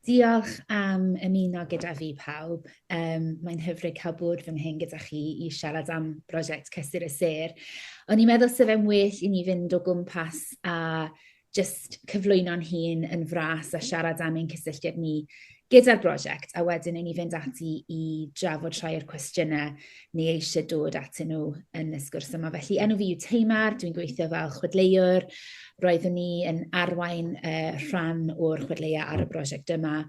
Diolch am ymuno gyda fi pawb. Um, Mae'n hyfryd cael bod fy nghyn gyda chi i siarad am brosiect Cysur y Ser. O'n i'n meddwl sef e'n well i ni fynd o gwmpas a just cyflwyno'n hun yn fras a siarad am ein cysylltiad ni gyda'r brosiect, a wedyn i ni fynd ati i drafod rhai o'r cwestiynau ni eisiau dod atyn nhw yn y sgwrs yma. Felly, enw fi yw Teimar, dwi'n gweithio fel chwedleuwr. Roeddwn ni yn arwain uh, rhan o'r chwedleia ar y brosiect yma,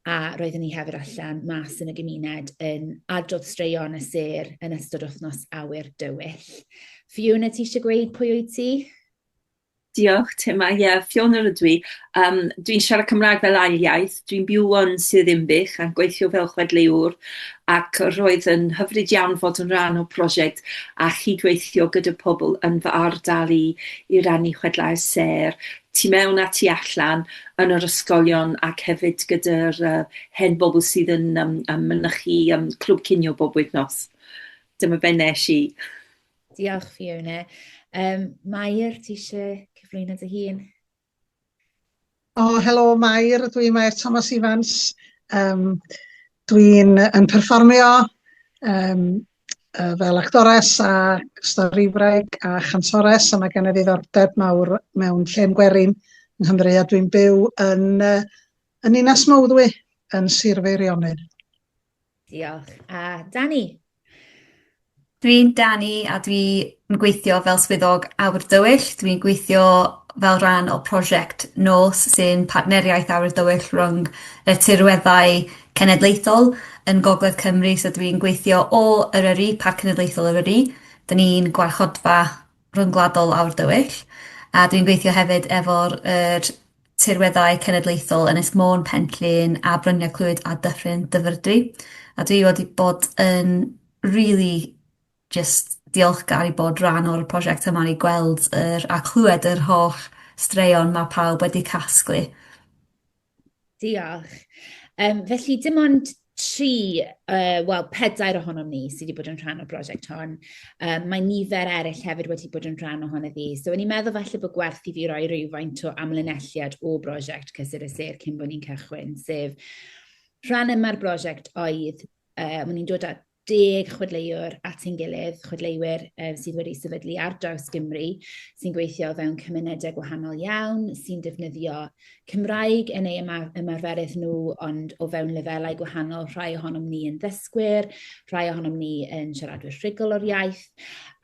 a roeddwn ni hefyd allan mas yn y gymuned yn adrodd straeon y ser yn ystod wythnos awyr dywyll. Fiona, ti eisiau gweud pwy wyt ti? Diolch Tim, a ie, Fiona rydw i. Um, dwi'n siarad Cymraeg fel ail iaith, dwi'n byw yn Sir Ddinbych a gweithio fel chwedleuwr ac roedd yn hyfryd iawn fod yn rhan o prosiect a chydweithio gyda pobl yn fy ardal i i rannu chwedlau sêr tu mewn a tu allan yn yr ysgolion ac hefyd gyda'r uh, hen bobl sydd yn um, um, mynychu um, clwb cinio bob wythnos. Dyma be nes i. Diolch, Fiona. Um, Mair, ti eisiau cyflwyno dy hun? O, oh, helo, Mair. Dwi'n Mair Thomas Evans. Um, dwi'n yn perfformio um, uh, fel actores a storifraig a chantores a mae gen i ddiddordeb mawr mewn lle'n gwerin yng Nghymru a dwi'n byw yn, uh, yn Inas Mowddwy yn Sir Feirionnydd. Diolch. A Dani? Dwi'n Dani a dwi'n gweithio fel swyddog awyr dywyll. Dwi'n gweithio fel rhan o prosiect nos sy'n partneriaeth awyr dywyll rhwng y tirweddau cenedlaethol yn gogledd Cymru so dwi'n gweithio o Eryri, Parc Cenedlaethol Eryri. 'Dyn ni'n gwarchodfa ryngwladol aur dywyll, a dwi'n gweithio hefyd efo'r yr tirweddau cenedlaethol Ynys Môn, Pen-llŷn a Bryniau Clwyd a Dyffryn Dyfrdwy. A dwi wedi bod yn rili jyst diolchgar i bod rhan o'r prosiect yma i gweld yr a chlwed yr holl straeon ma' pawb wedi casglu. Diolch. Um, felly, dim ond tri, uh, wel, pedair ohonom ni sydd wedi bod yn rhan o'r brosiect hon. Um, mae nifer eraill hefyd wedi bod yn rhan ohono fi. So, o'n i'n meddwl falle bod gwerth i fi roi rhywfaint o amlinelliad o brosiect Cysur y Sir cyn bod ni'n cychwyn, sef rhan yma'r brosiect oedd, uh, o'n i'n dod at deg chwedleuwr at ein gilydd, chwedleuwyr um, sydd wedi sefydlu ar draws Gymru, sy'n gweithio fewn cymunedau gwahanol iawn, sy'n defnyddio Cymraeg yn ei ymarferydd nhw, ond o fewn lefelau gwahanol, rhai ohonom ni yn ddysgwyr, rhai ohonom ni yn siaradwyr rhugl o'r iaith,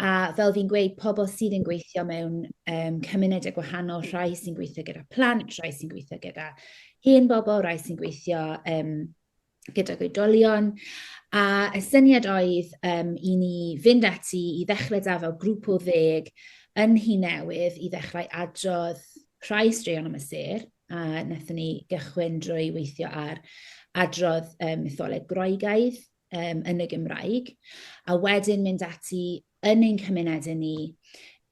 a fel fi'n gweud, pobl sydd yn gweithio mewn um, cymunedau gwahanol, rhai sy'n gweithio gyda plant, rhai sy'n gweithio gyda hen bobl, rhai sy'n gweithio um, gydag oedolion, a y syniad oedd um, i ni fynd ati i ddechrau da fel grŵp o ddeg yn hi newydd i ddechrau adrodd rhai straeon am y ser, a wnaethon ni gychwyn drwy weithio ar adrodd um, mytholeg Groegaidd um, yn y Gymraeg, a wedyn mynd ati yn ein cymunedau ni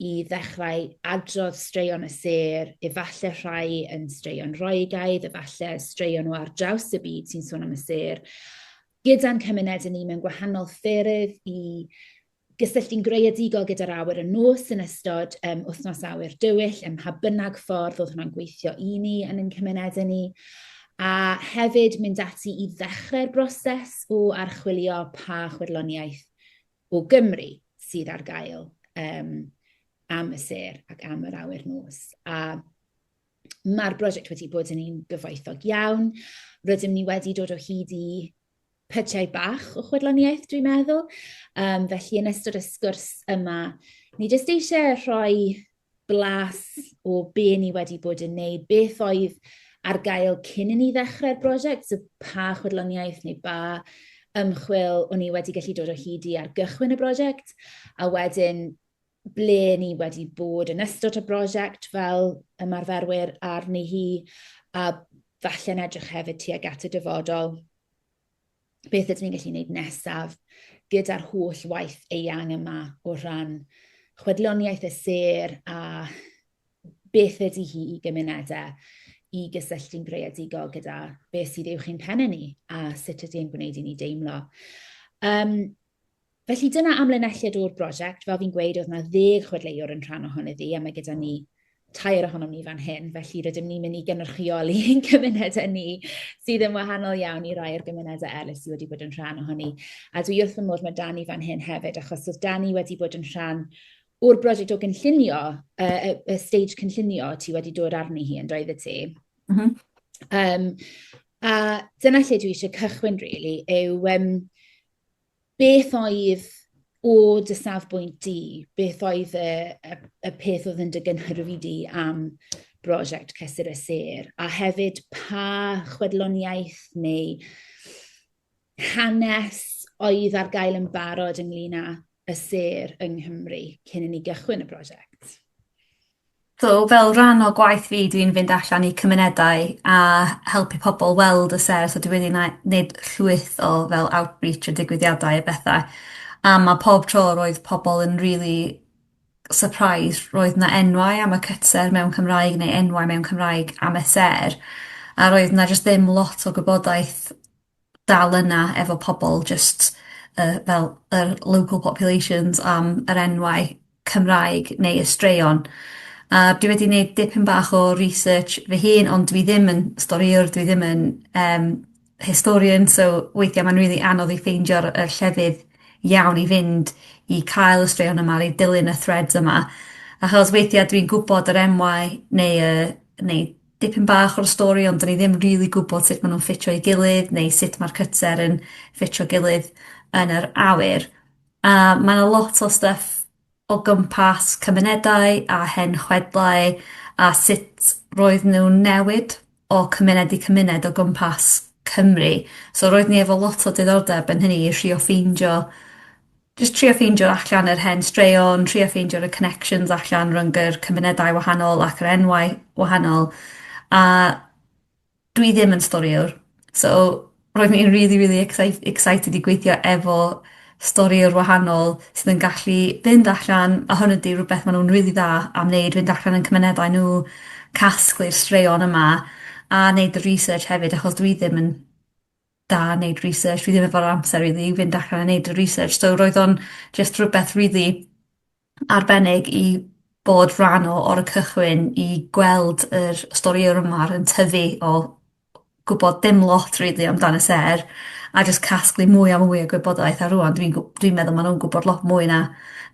i ddechrau adrodd straeon y sêr, efallai rhai yn straeon roegaidd, efallai straeon o ar draws y byd sy'n sôn am y sêr, gyda'n cymunedau ni mewn gwahanol ffyrdd i gysylltu'n greadigol gyda'r awyr y nos yn ystod um, wythnos awyr dywyll, ym mha bynnag ffordd oedd hwnna'n gweithio i ni yn ein cymunedau ni a hefyd mynd ati i ddechrau'r broses o archwilio pa chwirloniaeth o Gymru sydd ar gael um, am y ser ac am yr awyr nos. A mae'r brosiect wedi bod yn un gyfoethog iawn. Rydym ni wedi dod o hyd i pytiau bach o chwedloniaeth, dwi'n meddwl. Um, felly, yn ystod y sgwrs yma, ni jyst eisiau rhoi blas o be ni wedi bod yn neud, beth oedd ar gael cyn i ni ddechrau'r brosiect, so pa chwedloniaeth neu ba ymchwil o'n ni wedi gallu dod o hyd i ar gychwyn y brosiect, a wedyn ble ni wedi bod yn ystod y brosiect fel ymarferwyr arni hi, a falle'n edrych hefyd tuag at y dyfodol. beth ydyn ni'n gallu gwneud nesaf gyda'r holl waith eang yma o rhan chwedloniaeth y ser a beth ydy hi i gymunedau i gysylltu'n greadigol gyda beth sydd uwch i'n pennau ni a sut ydy e'n gwneud i ni deimlo. Um, Felly dyna amlinelliad o'r brosiect. Fel fi'n gweud, oedd 'na ddeg chwedleuwr yn rhan ohoni ddi, a mae gyda ni tair ohonom ni fan hyn, felly rydym ni'n mynd i gynrychioli ein cymunedau ni, sydd yn wahanol iawn i rai o'r gymunedau eraill sydd wedi bod yn rhan ohoni. A dwi wrth fy modd, mae Dani fan hyn hefyd, achos oedd Dani wedi bod yn rhan o'r brosiect o gynllunio, y, y, y stage cynllunio ti wedi dod arni hi, yn doedd y ti? Mm -hmm. um, a dyna lle dwi eisiau cychwyn, really, yw... Um, Beth oedd, o dy safbwynt di, beth oedd y, y, y peth oedd yn dy gynhyrfu di am brosiect Cysur y Sêr? A hefyd, pa chwedloniaeth neu hanes oedd ar gael yn barod ynglyn â y sêr yng Nghymru cyn i ni gychwyn y prosiect? So, fel rhan o gwaith fi, dwi'n fynd allan i cymunedau a helpu pobl weld y sêr, so dwi wedi na- neud llwyth o fel outreach a digwyddiadau a betha, a ma' pob tro roedd pobl yn rili surprised roedd 'na enwau am y cytser mewn Cymraeg neu enwau mewn Cymraeg am y sêr a roedd 'na jyst ddim lot o gwybodaeth dal yna efo pobol jyst yy fel yr local populations am yr enwau Cymraeg neu y straeon. A dwi wedi neud dipyn bach o research fy hun ond dwi ddim yn storïwr dwi ddim yn yym historian so weithia' ma'n rili anodd i ffeindio'r y llefydd iawn i fynd i cael y straeon yma i dilyn y threads yma achos weithia' dwi'n gwbod yr enwau neu y neu dipyn bach o'r stori ond 'dyn ni ddim rili gwbod sut ma' nw'n ffitio i gilydd neu sut ma'r cytser yn ffitio gilydd yn yr awyr. A ma' 'na lot o styff o gwmpas cymunedau a hen chwedlau a sut roedd nw'n newid o cymuned i cymuned o gwmpas Cymru. So roedd ni efo lot o diddordeb yn hynny i trio ffeindio jyst trio ffeindio allan yr hen straeon, trio ffeindio y connections allan rhwng yr cymunedau wahanol ac yr enwau wahanol, a dwi ddim yn storïwr, so roedd hi'n rili rili excite- excited i gweithio efo storïwr wahanol sydd yn gallu fynd allan, a hwn ydi rwbeth ma' nw'n rili dda am neud, fynd allan yn cymunedau nw, casglu'r straeon yma, a neud y research hefyd achos dwi ddim yn da neud research fi ddim efo'r amser rili i fynd allan a neud y research so roedd o'n jyst rwbeth rili arbennig i bod rhan o o'r cychwyn i gweld yr storïa o'r ma'r yn tyfu o gwbod dim lot rili amdan y sêr a jyst casglu mwy a mwy o gwybodaeth a rŵan dwi'n gw- dwi'n meddwl ma' nw'n gwbod lot mwy na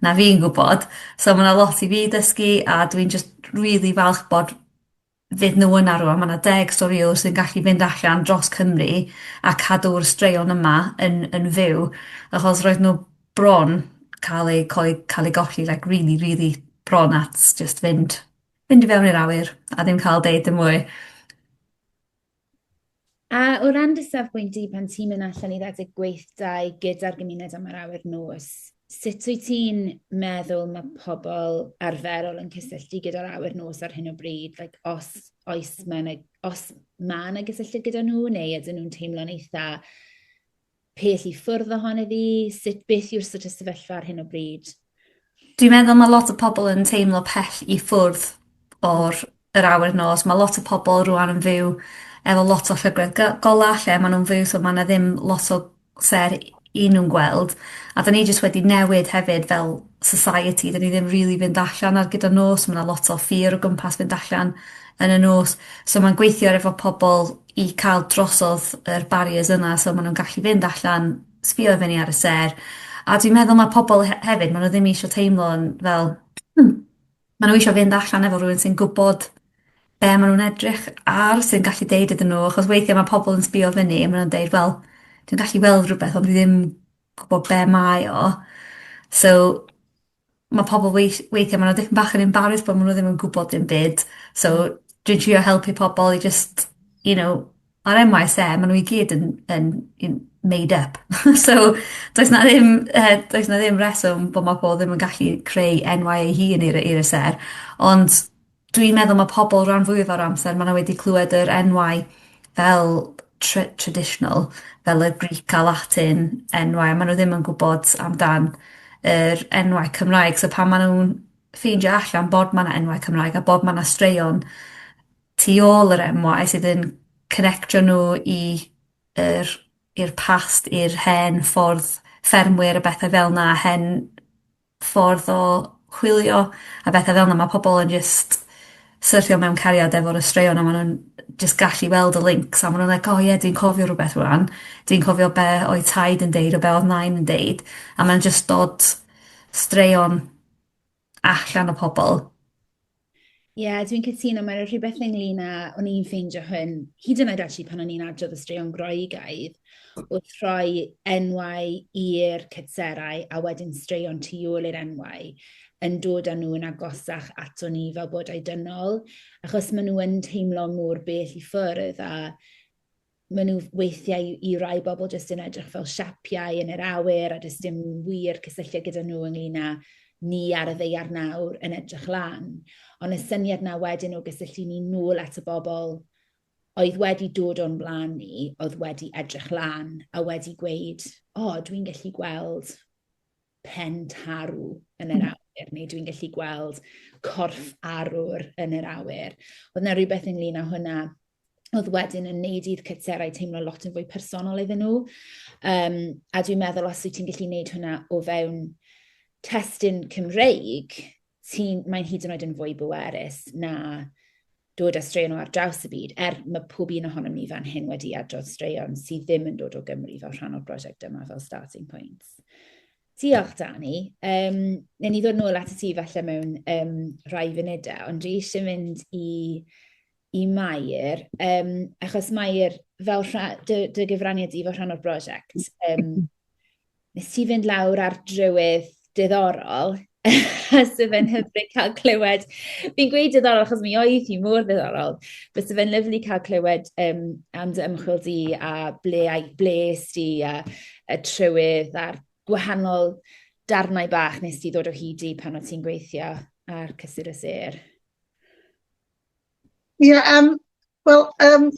na fi'n gwbod so ma' 'na lot i fi dysgu a dwi'n jyst rili falch bod fyd nhw yna rŵan. Ma' 'na deg storïwr sy'n gallu mynd allan dros Cymru a cadw'r straeon yma yn yn fyw achos roedd n'w bron ca'l eu coe- ca'l eu golli like rili rili bron at jyst fynd fynd i fewn i'r awyr a ddim ca'l deud dim mwy. A o ran dy safbwynt di pan ti'n mynd allan i redeg gweithdai gyda'r gymuned am yr awyr nos, sut wyt ti'n meddwl mae pobl arferol yn cysylltu gyda'r awyr nos ar hyn o bryd? Like, os, oes mae yna, os mae yna gysylltiad gyda nhw, neu ydyn nhw'n teimlo'n eitha Peth i ffwrdd ohon iddi, sut beth yw'r sort of sefyllfa ar hyn o bryd? Dwi'n meddwl ma' lot o pobol yn teimlo pell i ffwrdd o'r yr awyr nos ma' lot o pobol rŵan yn fyw efo lot o llygredd gy- gola lle ma' nw'n fyw so ma' 'na ddim lot o ser i nw'n gweld a 'dan ni jyst wedi newid hefyd fel society 'dyn ni ddim rili fynd allan ar gyfer nos ma' 'na lot o ffyr o gwmpas fynd allan yn y nos so ma'n gweithio ar efo pobol i ca'l drosodd yr barriers yna so ma' nw'n gallu fynd allan, sbïo i fyny ar y sêr, a dwi'n meddwl ma' pobol he- hefyd ma' nw ddim isio teimlo'n fel hmm ma' nw isio fynd allan efo rywun sy'n gwbod be' ma' nw'n edrych ar sy'n gallu deud iddyn nw achos weithie ma' pobol yn sbïo fyny a ma' nw'n deud wel dwi'n gallu weld rwbeth ond dwi ddim gwbo be' mae o. So ma' pobol weith- weithie ma' nw dipyn bach yn embarrased bo' ma' nw ddim yn gwbod dim byd so dwi'n trio helpu pobol i jyst you know ma'r En Waa Eee See ma' nw i gyd yn yn yn made up so does 'na ddim yy does 'na ddim reswm bo' ma' pobol ddim yn gallu creu enwau eu hun i re- i re ser ond Dwi'n meddwl ma' pobol ran fwyaf o'r amser ma' n'w wedi clwed yr enwau fel tr- traditional fel y Greek a Latin enwau a ma' n'w ddim yn gwbod amdan yr enwau Cymraeg so pan ma' nw'n ffeindio allan bod ma' 'na enwau Cymraeg a bod ma' 'na straeon tu ôl yr enwau sydd yn connectio n'w i yr i'r past i'r hen ffordd ffermwyr a bethe fel 'na a hen ffordd o chwilio a betha fel 'na ma' pobol yn jyst syrthio mewn cariad efo'r y straeon a ma' nw'n jyst gallu weld y lincs a ma' nw'n like o ie dwi'n cofio rwbeth rŵan dwi'n cofio be' oedd taid yn deud a be' odd nain yn deud a ma'n jyst dod straeon allan o pobol. Ie, yeah, dwi'n cytuno, mae'n rhywbeth ynglyn â, o'n i'n ffeindio hyn, hyd yn oed ati pan o'n i'n adrodd y straeon Groegaidd, wrth rhoi enwau i'r cytserau a wedyn straeon tu ôl i'r enwau, yn dod â nhw'n agosach ato ni fel bod dynol, achos maen nhw yn teimlo mor bell i ffwrdd a maen nhw weithiau i i rai bobl jyst yn edrych fel siapiau yn yr awyr a does dim wir cysylltiad gyda nhw ynglyn â ni ar y ddaear nawr yn edrych lan. Ond y syniad 'na wedyn o gysylltu ni nôl at y bobl oedd wedi dod o'n blaen ni, oedd wedi edrych lan a wedi gweud, 'O, dwi'n gallu gweld pen tarw yn yr hmm. awyr, neu dwi'n gallu gweld corff arwr yn yr awyr. Oedd yna rhywbeth ynglyn â hwnna oedd wedyn yn neud i'r cytserau teimlo lot yn fwy personol iddyn nhw. Um, a dwi'n meddwl os wyt ti'n gallu neud hwnna o fewn testyn Cymreig, ti'n, mae'n hyd yn oed yn fwy bwerus na dod â straeon o ar draws y byd, er mae pob un ohonom ni fan hyn wedi adrodd straeon sydd ddim yn dod o Gymru fel rhan o'r brosiect yma fel starting points. Diolch, Dani. Um, Neu ni ddod nôl at y ti falle mewn um, rhai funudau, ond dwi eisiau mynd i, i Mair, um, achos Mair, fel rha, dy, dy gyfraniad i fel rhan o'r brosiect, um, nes ti fynd lawr ar drywydd diddorol, sydd fe'n hyfryd cael clywed. Fi'n gweud diddorol achos mi oedd hi mor ddiddorol. Bysa fe'n lyflu cael clywed um, am dy ymchwil di a ble, a ble di a, a trywydd a'r gwahanol darnau bach nes ti ddod o hyd i pan o ti'n gweithio ar cysur y ser. Ie, yeah, um, wel, um,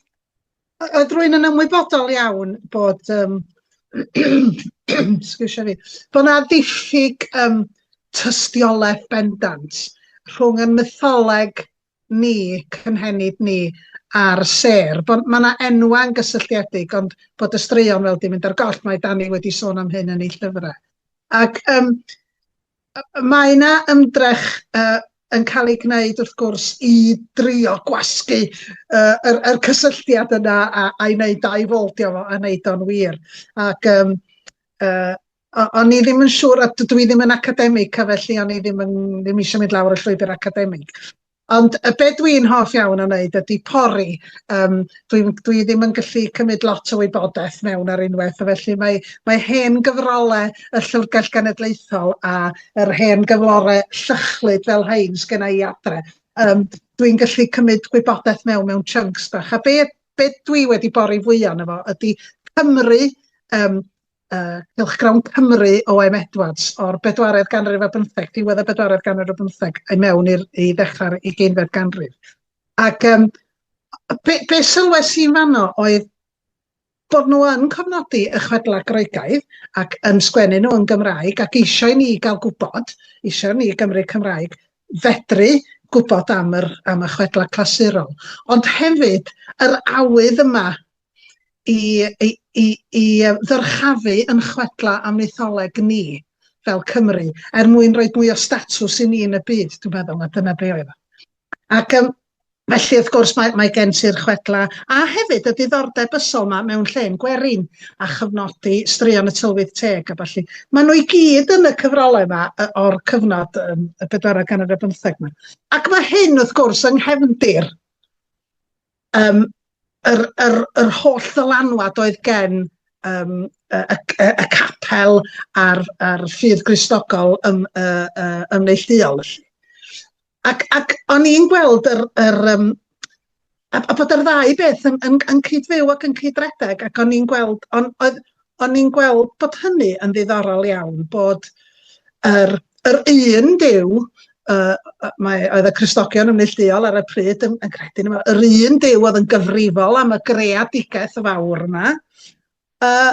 Oedd rwy'n yn ymwybodol iawn bod, um, sgwrsio fi, bod yna ddiffyg um, tystiolaeth bendant rhwng y mytholeg ni, cynhenid ni, a'r ser. Bod, mae yna enwau'n gysylltiedig, ond bod y straeon fel di mynd ar goll, mae Dani wedi sôn am hyn yn ei llyfrau. Ac um, Mae yna ymdrech yn cael ei gwneud wrth gwrs i drio gwasgu yr cysylltiad yna a'i wneud dau fold iddo fo a wneud o'n wir. Ac yym o'n i ddim yn siŵr, dydw i ddim yn academig felly o'n i ddim eisiau mynd lawr y llwybr academig. Ond yy be' dwi'n hoff iawn o wneud ydi pori, yym dwi'm dwi ddim yn gallu cymryd lot o wybodaeth mewn ar unwaith, a felly mae mae hen gyfrole y Llyfrgell Genedlaethol a yr hen gyflore llychlyd fel rhein sgynna i adre, yym dwi'n gallu cymryd gwybodaeth mewn mewn chunks bach, a be' be' dwi wedi bori fwya o'no fo ydi Cymru, yym uh, cylchgrawn Cymru O.M. Edwards o'r bedwaredd ganrif ar bymtheg, diwedd y bedwaredd ganrif ar bymtheg, i mewn i'r i ddechrau'r ugeinfed ganrif. Ac um, be, be sylwes i'n fanno oedd bod nhw yn cofnodi y chwedlau Groegaidd ac yn sgwennu nhw yn Gymraeg ac eisiau ni gael gwybod, eisiau ni Gymru Cymraeg fedru gwybod am, yr, am y chwedlau clasurol. Ond hefyd, yr awydd yma i, i, i, i ddyrchafu yn chwedla am mytholeg ni fel Cymru, er mwyn rhoi mwy o statws i ni yn y byd, dwi'n meddwl, a dyna be oedd o. Ac um, felly, wrth gwrs, mae, mae gen ti'r chwedla, a hefyd y diddordeb ysol yma mewn lle'n gwerin, a chyfnodi straeon y tylwyth teg a falle. Mae nhw i gyd yn y cyfrolau yma o'r cyfnod um, y bedwarau gan yr bymtheg yma. Ac mae hyn, wrth gwrs, yng nghefndir Yym yr yr yr holl ddylanwad oedd gen yym y y y y capel a'r a'r ffydd Gristnogol ym yy yy yn neillduol felly. Ac ac o'n i'n gweld yr yr yym a a bod yr ddau beth yn yn yn cyd-fyw ac yn cyd-redeg ac o'n i'n gweld on' oedd o'n i'n gweld bod hynny yn ddiddorol iawn, bod yr, yr un Duw, uh, mae, oedd y Cristogion yn neillduol ar y pryd yn, yn credu yma, yr un Duw oedd yn gyfrifol am y greadigaeth fawr yma, uh,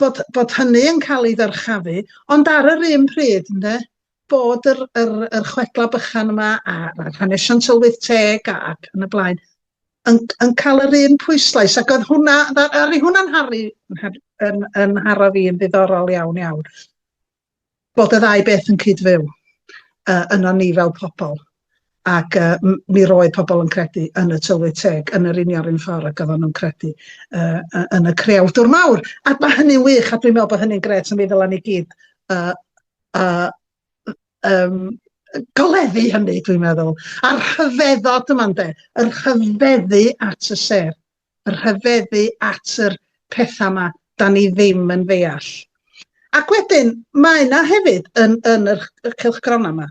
bod, bod hynny yn cael ei ddyrchafu, ond ar yr un pryd, ynddo, bod yr, yr, yr chwedlau bychan yma a, a hanesion tylwyth teg a, ac yn y blaen yn, yn cael yr un pwyslais ac oedd hwnna, ar ei hwnna'n harru yn, yn haro fi yn ddiddorol iawn iawn bod y ddau beth yn cyd-fyw uh, yno ni fel pobl ac uh, mi roedd pobl yn credu yn y tylwyth teg yn yr union un ffordd ac oedden nhw'n credu uh, yn y creawdwr mawr a mae hynny'n wych a dwi'n meddwl bod hynny'n gret a mi ddylen ni gyd uh, A yym goleddu hynny dwi'n meddwl. A'r rhyfeddod yma ynde, yr rhyfeddu at y sêr, yr rhyfeddu at yr pethau yma da ni ddim yn ddeall. Ac wedyn, mae yna hefyd yn, yn yr, y cylchgronau yma,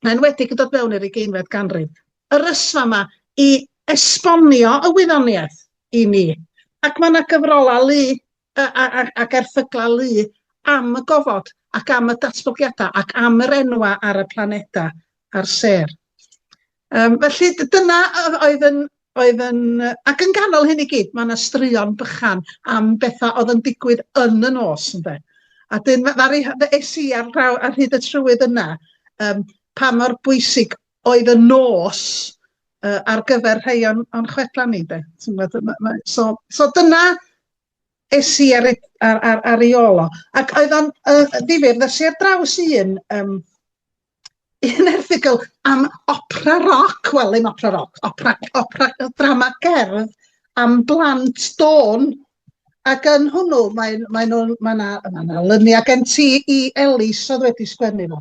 yn enwedig yn dod mewn i'r ugeinfed ganrif, yr ysfa yma i esbonio y wyddoniaeth i ni. Ac mae yna gyfrolau lu a, a, a, ac erthyglau lu am y gofod ac am y datblygiadau ac am yr enwau ar y planedau a'r sêr. Um, felly dyna oedd yn, oedd yn... Ac yn ganol hyn i gyd, mae yna straeon bychan am bethau oedd yn digwydd yn y nos, ynde. A dyn, ddari, es i ar, draw, ar hyd y trywydd yna, um, pa mor bwysig oedd y nos uh, ar gyfer rhai o'n, on chwedlau ni, de. So, so dyna es i ar, ar, ar, ar ei ôl o. Ac oedd o'n uh, ddifur, ddes i ar draws un, um, un erthigol am opera roc, wel ddim opera roc, opera, opera drama gerdd am blant dôn. Ac yn hwnnw, mae, mae nhw, mae yna ma na lyniau gen ti i Elis oedd wedi sgwennu fo.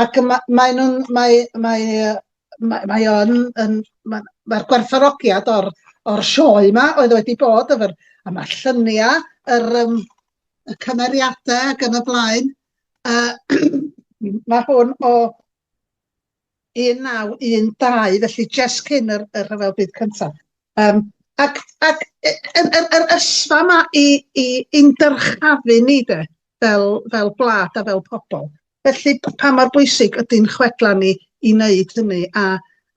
Ac mae, mae nhw'n, mae, mae, mae mae o yn yn ma' ma'r gwerthfawrogiad o'r o'r sioe 'ma oedd wedi bod efo'r a ma'r llunia' yr yym y cymeriade ag yn y blaen yy ma' hwn o 1912 felly jest cyn yr y rhyfel byd cynta. Yym ac ac y yr yr ysfa 'ma i i i'n dyrchafu ni de. fel, fel gwlad a fel pobl. Felly, pa mor bwysig ydy'n chwedlau ni i wneud hynny a,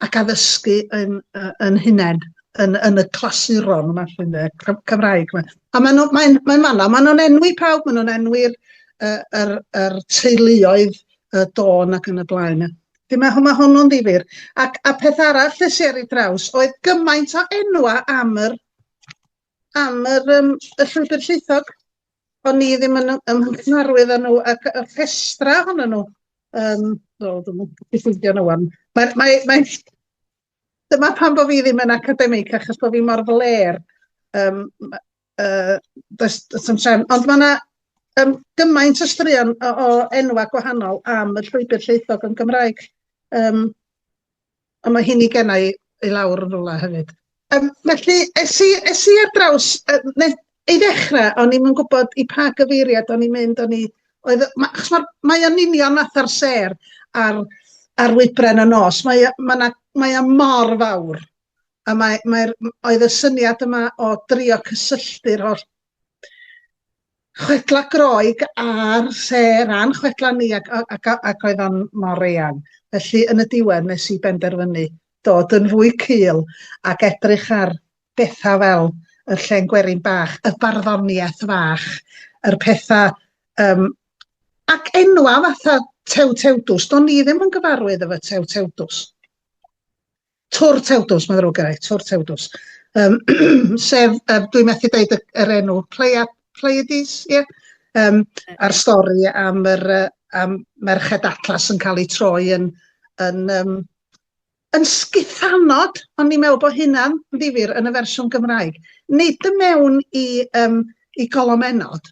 ac addysgu yn, yn hunain, yn, yn y clasuron yma, llwy'n dde, Cymraeg yma. A maen nhw'n mae, mae fanna, maen nhw'n enwi pawb, maen nhw'n enwi'r er, er, er teuluoedd y dôn ac yn y blaen. Felly mae, mae hwnnw'n ddifur. Ac, a peth arall lle si ar ei draws oedd gymaint o enwa am yr, am yr, um, y llwybr llaethog. o'n i ddim yn ym nghymharwydd â nhw ac y rhestra ohonyn nhw yym wel dwi'm yn gallu ffeindio nhw ŵan mae mae mae dyma pam bo' fi ddim yn academig achos bo' fi mor flêr yym ma- yy does does na'm trefn ond ma' 'na yym gymaint o straeon o o enwa' gwahanol am y llwybr llwythog yn Gymraeg yym Ond mae hyn i genna i i lawr yn rwla hefyd. Um, felly, es i, es i ar draws, uh, ei ddechrau, o'n i'n gwybod i pa gyfeiriad o'n i'n mynd, o'n i, oedd, ma, achos mae'r, mae o'n union fath ar ser ar, ar wybren y nos, mae, mae, na, mae o mor fawr, a mae, mae, oedd y syniad yma o drio cysylltu'r holl Chwedlau Groeg ar lle ran chwedlau ni ac, ac, ac oedd o'n mor eang. Felly yn y diwedd nes i benderfynu dod yn fwy cul ac edrych ar bethau fel y llen gwerin bach, y barddoniaeth fach, yr pethau um, ac enwa fatha Tew Tewdws. Do'n ni ddim yn gyfarwydd efo Tew Tewdws. Tŵr Tewdws, mae'n ddrwg gennai, Tŵr Tewdws. Um, sef, um, dwi'n methu dweud yr enw, Pleia, Pleiades, ie? Yeah? Um, a'r stori am, yr, am Merched Atlas yn cael ei troi yn, yn, um, yn sgithanod, ond ni'n meddwl bod hynna'n ddifur yn y fersiwn Gymraeg. Nid y mewn i, um, i golomennod,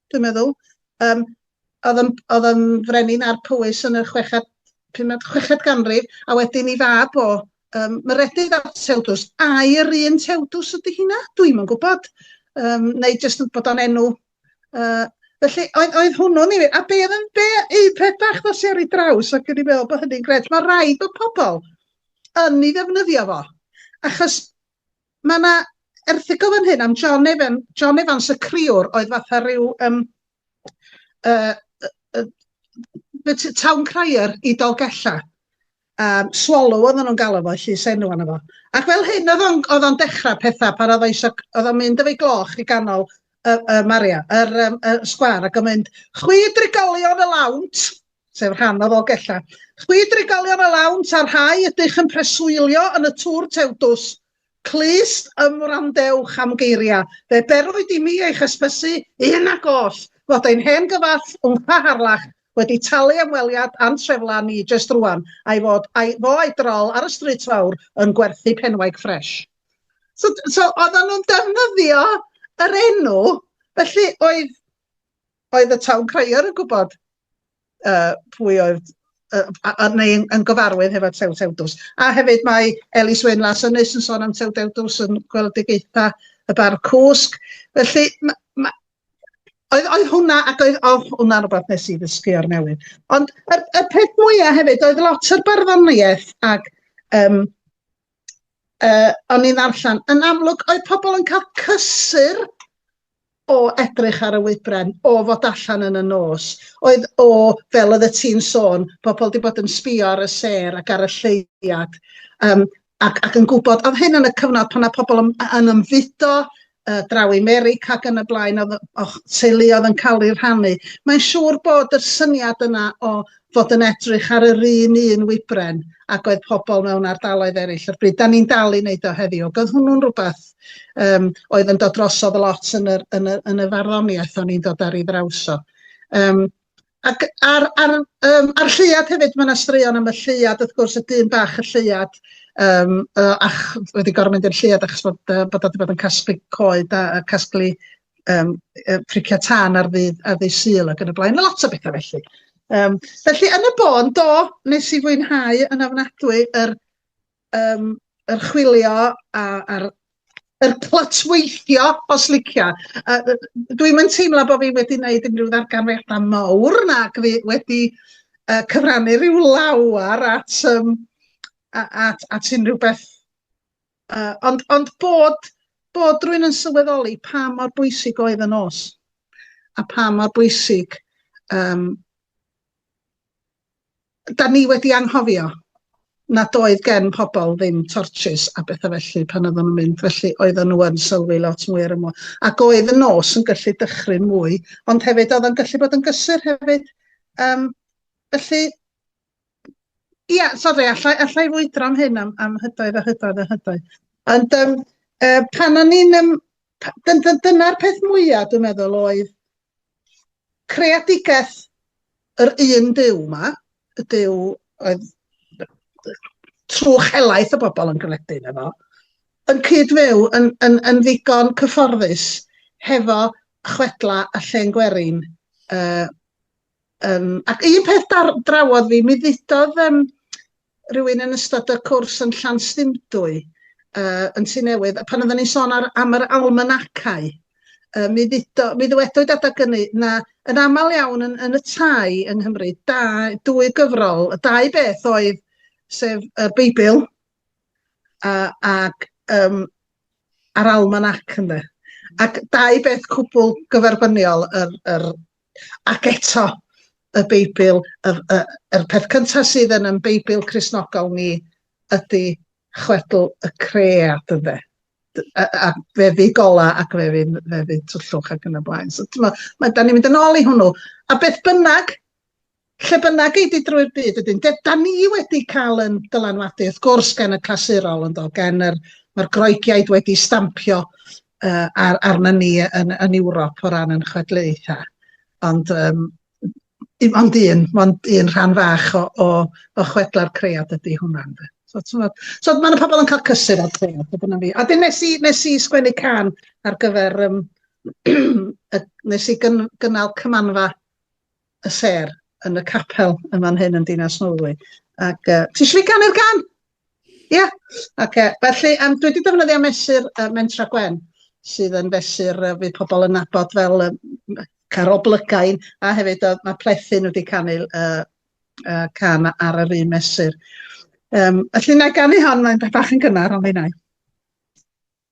dwi'n meddwl. Yym oedd yn oedd yn frenin ar Powys yn y chweched, pumed, chweched ganrif, a wedyn i fab o, um, Meredydd a Tewdws. Ai yr un Tewdws ydy hynna? Dwi'm yn gwybod. Um, neu jyst bod o'n enw uh, Felly, oedd, oedd hwnnw'n ei... A be oedd yn be, eu peth bach ddos i ar ei draws ac yn ei meddwl bod hynny'n gret. Mae rhaid bod pobl yn ei ddefnyddio fo. Achos Mae 'na erthygl fan hyn am John Evan, John Evans y criwr oedd fatha rhyw um, uh, uh, uh, town crier i Dolgella. Um, swallow oedden nhw'n galw fo, llys enw anna fo. Ac fel hyn oedd o'n, oedd o'n dechrau pethau pan oedd eisiau, oedd o'n mynd efo'i gloch i ganol y, y Maria, yr, um, y sgwar, ac o'n mynd, chwi drigolion y lawnt, sef rhan o Ddolgellau. Chwi drigolion a lawn, ta rhai ydych yn preswylio yn y Tŵr Tewdws, clust ymwrandewch am geiriau, fe berwyd i mi eich hysbysu, un ac oll, fod ein hen gyfall Wmpa Harlach wedi talu am weliad a'n treflan ni jest rwan, a'i fod a'i fo a'i drol ar y Stryd Fawr yn gwerthu penwaig ffresh. So, so oedden nhw'n defnyddio yr enw, felly oedd Oedd y town crier yn gwybod uh, pwy oedd uh, a, a, neu yn, yn gyfarwydd hefo Tew Tewdws. A hefyd mae Elis Wyn Las Ynys yn sôn am Tew Tewdws yn gweledigaetha y bar cwsg. Felly, ma, ma, oedd, oedd hwnna, ac oedd, oh, hwnna rhywbeth nes i ddysgu o'r newydd. Ond y, y peth mwyaf hefyd, oedd lot o'r barddoniaeth ac um, yy o'n i'n ddarllen, yn amlwg oedd pobl yn cael cysur o edrych ar y wybren, o fod allan yn y nos, oedd o, fel oedd y ti'n sôn, pobl wedi bod yn sbio ar y sêr ac ar y lleuad, um, ac, ac yn gwybod, oedd hyn yn y cyfnod pan oedd pobl yn, yn ymfudo, yy draw i Merica ac yn y blaen o'dd yy o'ch teulu o'dd yn ca'l 'u rhannu. Mae'n siŵr bod yr syniad yna o fod yn edrych ar yr un un wybren ag oedd pobl mewn ardaloedd eraill o'r bryd, 'dan ni'n dal i wneud o heddiw ac oedd hwnnw'n rwbath yym oedd yn dod drosodd lot yn yr yn y yn y farddoniaeth o'n i'n dod ar ei ddrawso. Yym. Ac ar ar yym ar lleuad hefyd mae 'na straeon am y lleuad wrth gwrs y dyn bach y lleuad yym yy ach wedi gorfod mynd i'r lleuad achos bod yy bod o 'di bod yn casglu coed a a casglu yym yy pricia tân ar ddydd ar ddydd Sul ac yn y blaen, ma' lot o betha felly. Yym felly yn y bôn do, nes i fwynhau yn ofnadwy yr Yym, yr chwilio a, a'r yr clytweithio os licia. A, yy dwi'm yn teimlo bod fi wedi wneud unrhyw ddarganfyddiadau mawr nag fi wedi yy cyfrannu rhyw lawer at um, at, at unrhyw beth. Uh, ond, ond bod, bod rwy'n yn sylweddoli pa mor bwysig oedd y nos a pa mor bwysig um, 'dan ni wedi anghofio nad oedd gen pobl ddim tortshys a betha felly pan oedden nhw'n mynd, felly oedden nhw yn sylwi lot mwy ar y môr. Ac oedd y nos yn gallu dychryn mwy, ond hefyd oedd o'n gallu bod yn gysur hefyd. Um, felly, ia, sori, allai, allai fwydro am hyn am, am hydoedd a hydoedd a hydoedd. Ond um, uh, pan o'n i'n... Um, dyna'r peth mwyaf, dwi'n meddwl, oedd Creadigaeth yr un Duw 'ma, y Duw oedd trwch helaeth y bobl yn gredu yno fo, yn cyd-fyw yn, yn, yn ddigon cyfforddus hefo chwedla a llen gwerin. Uh, um, ac un peth dar, drawodd fi, mi ddudodd um, rhywun yn ystod y cwrs yn Llanstymdwy yy yn Tŷ Newydd a pan oedden ni'n sôn ar am yr almanacau yy mi ddudo mi ddywedwyd adag ynny na yn aml iawn yn yn y tai yng Nghymru da dwy gyfrol y dau beth oedd sef y Beibl a ac yym a'r almanac ynde ac dau beth cwbl gyferbyniol yr yr Ac eto, y Beibl, y, y, yr peth cyntaf sydd yn yn Beibl Crisnogol ni ydy chwedl y cread, ynddo a, a fe fydd gola ac fe fydd, fe fydd twllwch ac yn y blaen. So, ma, ma, da ni'n mynd yn ôl i hwnnw. A beth bynnag, Lle bynnag ei di drwy'r byd wedyn, de, da ni wedi cael yn dylanwadu, wrth gwrs, gan y clasurol, yn do, gan yr, mae'r Groegiaid wedi stampio uh, ar, arna ni yn, yn Ewrop o ran yn chwedlaethau. Ond um, ond un, ond un rhan fach o, o, o chwedla'r cread ydy hwnna. So, so mae'n y pobl yn cael cysur o'r cread, fe dyna fi. A dyn nes i, nes i sgwennu can ar gyfer, um, nes i gyn, gynnal cymanfa y sêr yn y capel yn fan hyn yn Dinas Nolwy. Ac uh, ti eisiau fi ganu'r gan? Ie. Yeah. Ac uh, felly, um, dwi wedi defnyddio mesur uh, Mentra Gwen, sydd yn fesur uh, fydd pobl yn nabod fel um, Carol Blygain, a hefyd uh, mae Plethin wedi canu uh, uh, can ar yr un mesur. Um, felly, na ganu hon, mae'n bach yn gynnar, ond fi'n ei.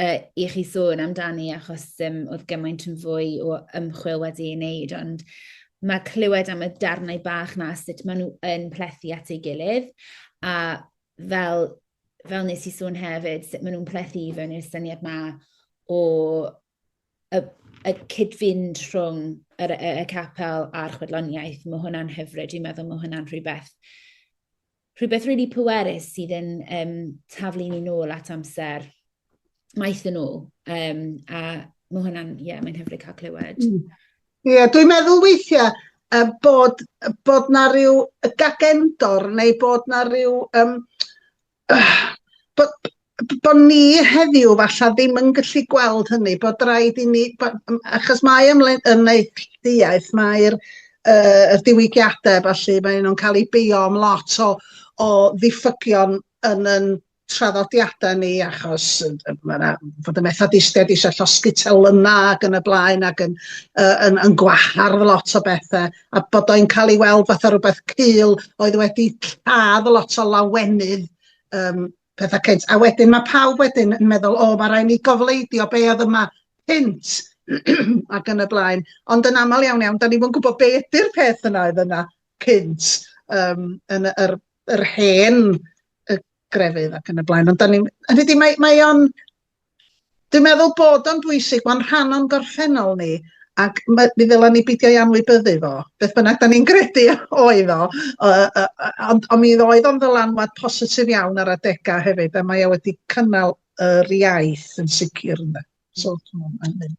uh, i chi sôn amdani achos um, oedd gymaint yn fwy o ymchwil wedi ei wneud, ond mae clywed am y darnau bach na sut maen nhw yn plethu at ei gilydd a fel, fel nes i sôn hefyd, sut maen nhw'n plethu i fewn i'r syniad ma o y, y cyd-fynd rhwng y, y, y capel a'r chwedloniaeth. Mae hwnna'n hyfryd, dwi'n meddwl mae hwnna'n rhywbeth rhywbeth really pwerus sydd yn um, taflu ni nôl at amser maith yn ôl. Um, a mae hwnna'n, ie, yeah, mae'n hyfryd cael clywed. Mm. Ie, yeah, dwi'n meddwl weithiau uh, bod, bod na rhyw gagendor neu bod na rhyw... Um, uh, bod, bod ni heddiw falle ddim yn gallu gweld hynny, bod rhaid i ni, bod, achos mae ymwneud mae'r uh, y diwygiadau felly, mae nhw'n cael eu beio am lot o, o ddiffygion yn yn traddodiadau ni achos mae yna fod y methodistiaid eisiau llosgi telynau ac yn y blaen ac yn, uh, yn, yn gwahardd lot o bethau a bod o'n cael ei weld fatha rhywbeth cul oedd wedi lladd lot o lawenydd um, petha cynt. A wedyn mae pawb wedyn yn meddwl, o, mae rhaid ni gofleidio be oedd yma cynt ac yn y blaen. Ond yn aml iawn iawn, da ni fod yn gwybod be ydy'r peth yna oedd yna cynt um, yn yr, yr hen y grefydd ac yn y blaen. Ond da ni, hynny di, mae, mae o'n Dwi'n meddwl bod o'n bwysig, mae'n rhan o'n gorffennol ni, ac mi ddylen ni beidio ei anwybyddu fo, beth bynnag da ni'n gredu oedd o, ond on mi oedd o'n ddylanwad positif iawn ar adegau hefyd, a mae o wedi cynnal yr iaith yn sicr ynde. So, mae'n mynd.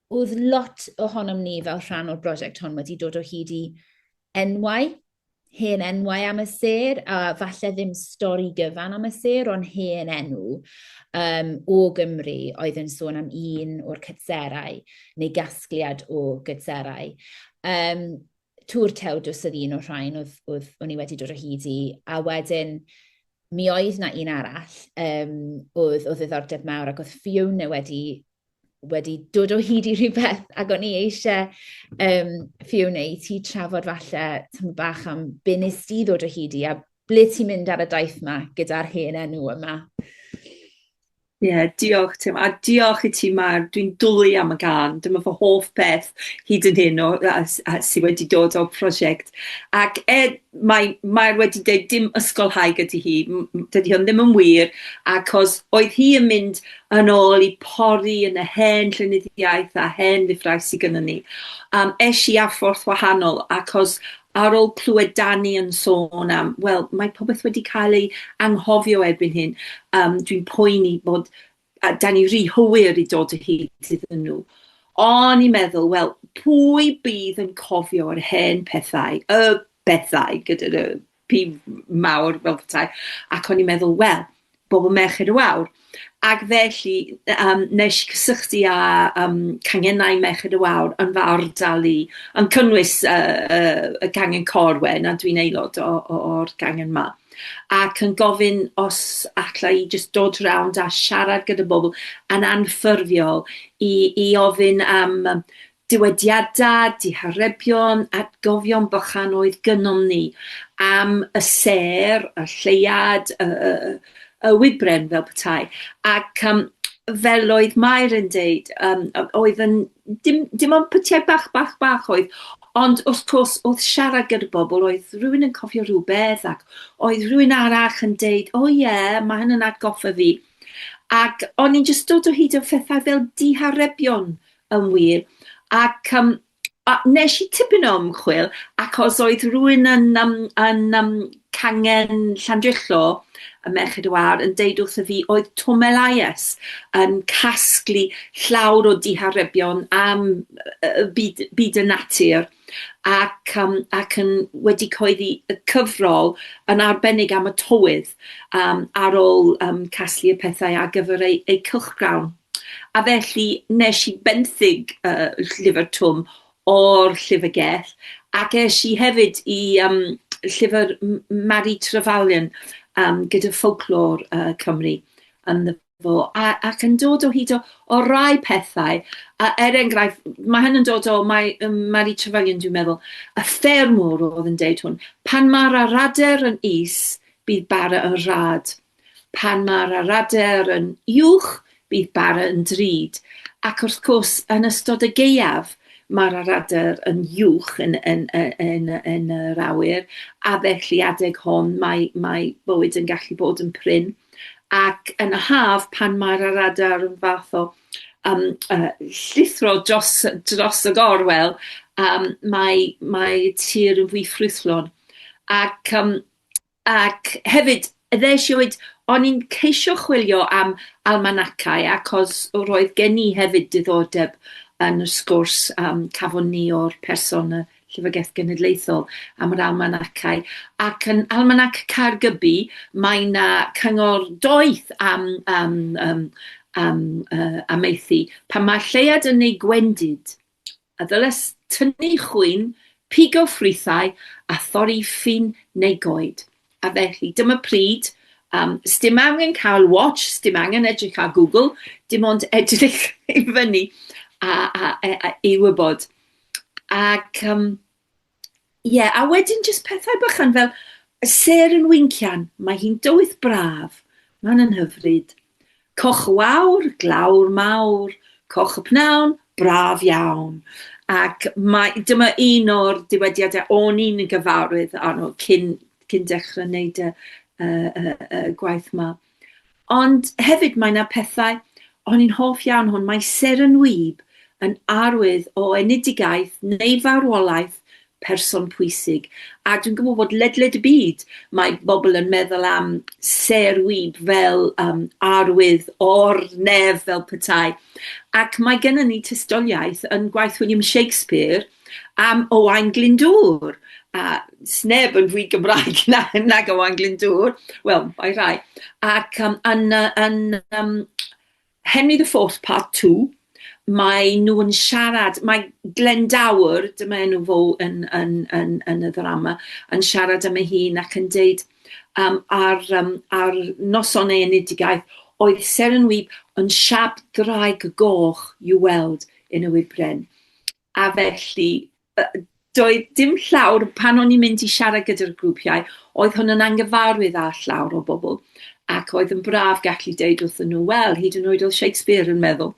Oedd lot ohonom ni fel rhan o'r brosiect hon wedi dod o hyd i enwau, hen enwau am y sêr, a falle ddim stori gyfan am y sêr, ond hen enw um, o Gymru oedd yn sôn am un o'r cytserau, neu gasgliad o gytserau. Um, Tŵr Tewdws oedd un o'r rhain oedd, oedd o'n i wedi dod o hyd i, a wedyn mi oedd na un arall um, oedd o ddiddordeb mawr ac oedd Fiona wedi wedi dod o hyd i rhywbeth ac o'n i eisiau um, Fiona i ti trafod falle tymor bach am be nes di ddod o hyd i a ble ti'n mynd ar y daith yma gyda'r hen enw yma? Ie, diolch Tim, a diolch i ti Mair, dwi'n dwli am y gân, dyma fy hoff beth hyd yn hyn o a s- a sy wedi dod o'r prosiect, ac er mai Mair wedi deud dim ysgolhaig ydi hi, m- m- dydi hwn ddim yn wir, acos oedd hi yn mynd yn ôl i pori yn y hen llenyddiaeth a hen lyfrau sy gynnon ni, yym esh i â fforth wahanol acos ar ôl clywed Dani yn sôn am, wel, mae popeth wedi cael ei anghofio erbyn hyn, um, dwi'n poeni bod a Dani rhy hwyr i dod o hyd iddyn nhw. O'n i'n meddwl, wel, pwy bydd yn cofio'r hen pethau, y bethau gyda'r pi mawr fel petai, ac o'n i'n meddwl, wel, bobl Merched y Wawr. Ac felly, um, nes i cysylltu â um, cangenau Merched y Wawr yn fy ardal i, yn cynnwys uh, uh, y gangen Corwen, a dwi'n aelod o'r gangen yma. Ac yn gofyn os alla i just dod rownd a siarad gyda bobl yn anffurfiol i, i ofyn am Dywediadau, diharebion, atgofion bychan oedd gynnom ni am y sêr, y lleuad, y, y, y, y wybren fel petai. Ac um, fel oedd Mair yn deud, um, oedd yn, dim, dim ond pytiau bach, bach, bach oedd, ond wrth gwrs oedd siarad gyda bobl, oedd rhywun yn cofio rhywbeth ac oedd rhywun arall yn deud, o oh, ie, yeah, mae hyn yn atgoffa fi. Ac o'n i'n just dod o hyd o phethau fel diharebion Yn wir. Ac um, a nes i tipyn o ymchwil, ac os oedd rhywun yn, um, yn um, cangen Llandrillo, y Merched y Wawr, yn deud wrth y fi, oedd Tom Elias yn casglu llawr o diharebion am uh, byd, byd y natur ac, um, ac yn wedi coeddi y cyfrol yn arbennig am y tywydd um, ar ôl um, casglu y pethau ar gyfer ei, ei cylchgrawn. A felly nes i benthyg y llyfr Twm o'r Llyfrgell ac es i hefyd i um, llyfr Mari Trevelyan um, gyda ffolclor uh, Cymru yn the fo a, ac yn dod o hyd o, o rai pethau. A er enghraifft, mae hyn yn dod o, mae um, Mari Trevelyan, dwi'n meddwl, y ffermwr oedd yn deud hwn, pan mae'r arader yn is, bydd bara yn rad. Pan mae'r aradaer yn uwch, bydd bara yn drud, ac wrth gwrs, yn ystod y gaeaf, mae'r aradaer yn uwch yn, yn, yn, yn yr awyr, a felly adeg hon mae, mae bywyd yn gallu bod yn prin. Ac yn y haf, pan mae'r aradaer yn fath o um, uh, llithro dros, dros y gorwel, um, mae, mae tir yn fwy ffrwythlon. Ac um, Ac hefyd, ddes i o hyd, o'n i'n ceisio chwilio am almanacau, achos roedd gen i hefyd diddordeb yn y sgwrs yym cafon ni o'r person y Llyfrgell Genedlaethol am yr almanacau, ac yn Almanac Caergybi mae 'na cyngor doeth am yym yym am yy amaethu, pan mae'r lleuad yn ei gwendid. a ddylent tynnu chwyn, pigo ffrwythau a thorri ffyn neu goed. A felly, dyma pryd, um, sdim angen cael watch, sdim angen edrych ar Google, dim ond edrych i fyny a, a, a, a i wybod. Ac um, ie, a wedyn jyst pethau bychan fel y ser yn wincian, mae hi'n dywydd braf, mae'n yn hyfryd. Coch y wawr, glawr mawr, coch y pnawn, braf iawn. Ac mae, dyma un o'r diwydiadau o'n i'n gyfarwydd arno cyn, cyn dechrau wneud y, y, y, y gwaith yma. Ond hefyd mae 'na pethau, o'n i'n hoff iawn hwn, mae Seren Wib yn arwydd o enedigaeth neu farwolaeth person pwysig. A dwi'n gwybod bod ledled y byd mae bobl yn meddwl am Ser Wib fel um, arwydd o'r nef fel petai. Ac mae gennym ni tystiolaeth yn gwaith William Shakespeare am Owain Glyndŵr, a sneb yn fwy Gymraeg na, nag Owain Glyndŵr, wel, mae rhai, ac um, yn, yn um, Henry the Fourth Part 2, mae nhw yn siarad, mae Glendower, dyma enw fo yn, yn, yn, yn y ddrama, yn siarad am ei hun ac yn deud um, ar, um, ar noson ei enedigaeth, oedd Seren Wyb yn siap draig goch i'w weld yn y wybren. A felly, doedd dim llawr, pan o'n i'n mynd i siarad gyda'r grwpiau, oedd hwn yn angyfarwydd â llawr o bobl, ac oedd yn braf gallu deud wrthyn nhw, wel, hyd yn oed oedd Shakespeare yn meddwl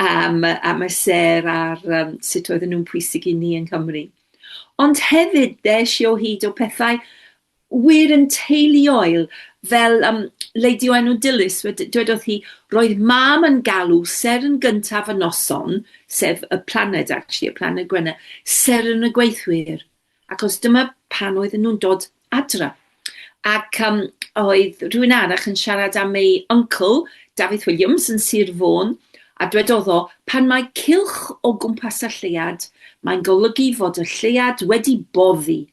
am, am y sêr ar um, sut oedden nhw'n pwysig i ni yng Nghymru. Ond hefyd, ddes i o hyd o pethau wir yn teuluoel, fel um, Lady o enw Dilys, dwedodd hi, roedd mam yn galw ser yn gyntaf y noson, sef y planed, actually, y planed Gwenna, ser yn y gweithwyr, ac os dyma pan oedden nhw'n dod adra. Ac um, oedd rhywun arach yn siarad am ei uncle, Dafydd Williams, yn Sir Fôn, a dwedodd o, pan mae cilch o gwmpas y lleuad, mae'n golygu fod y lleuad wedi boddi,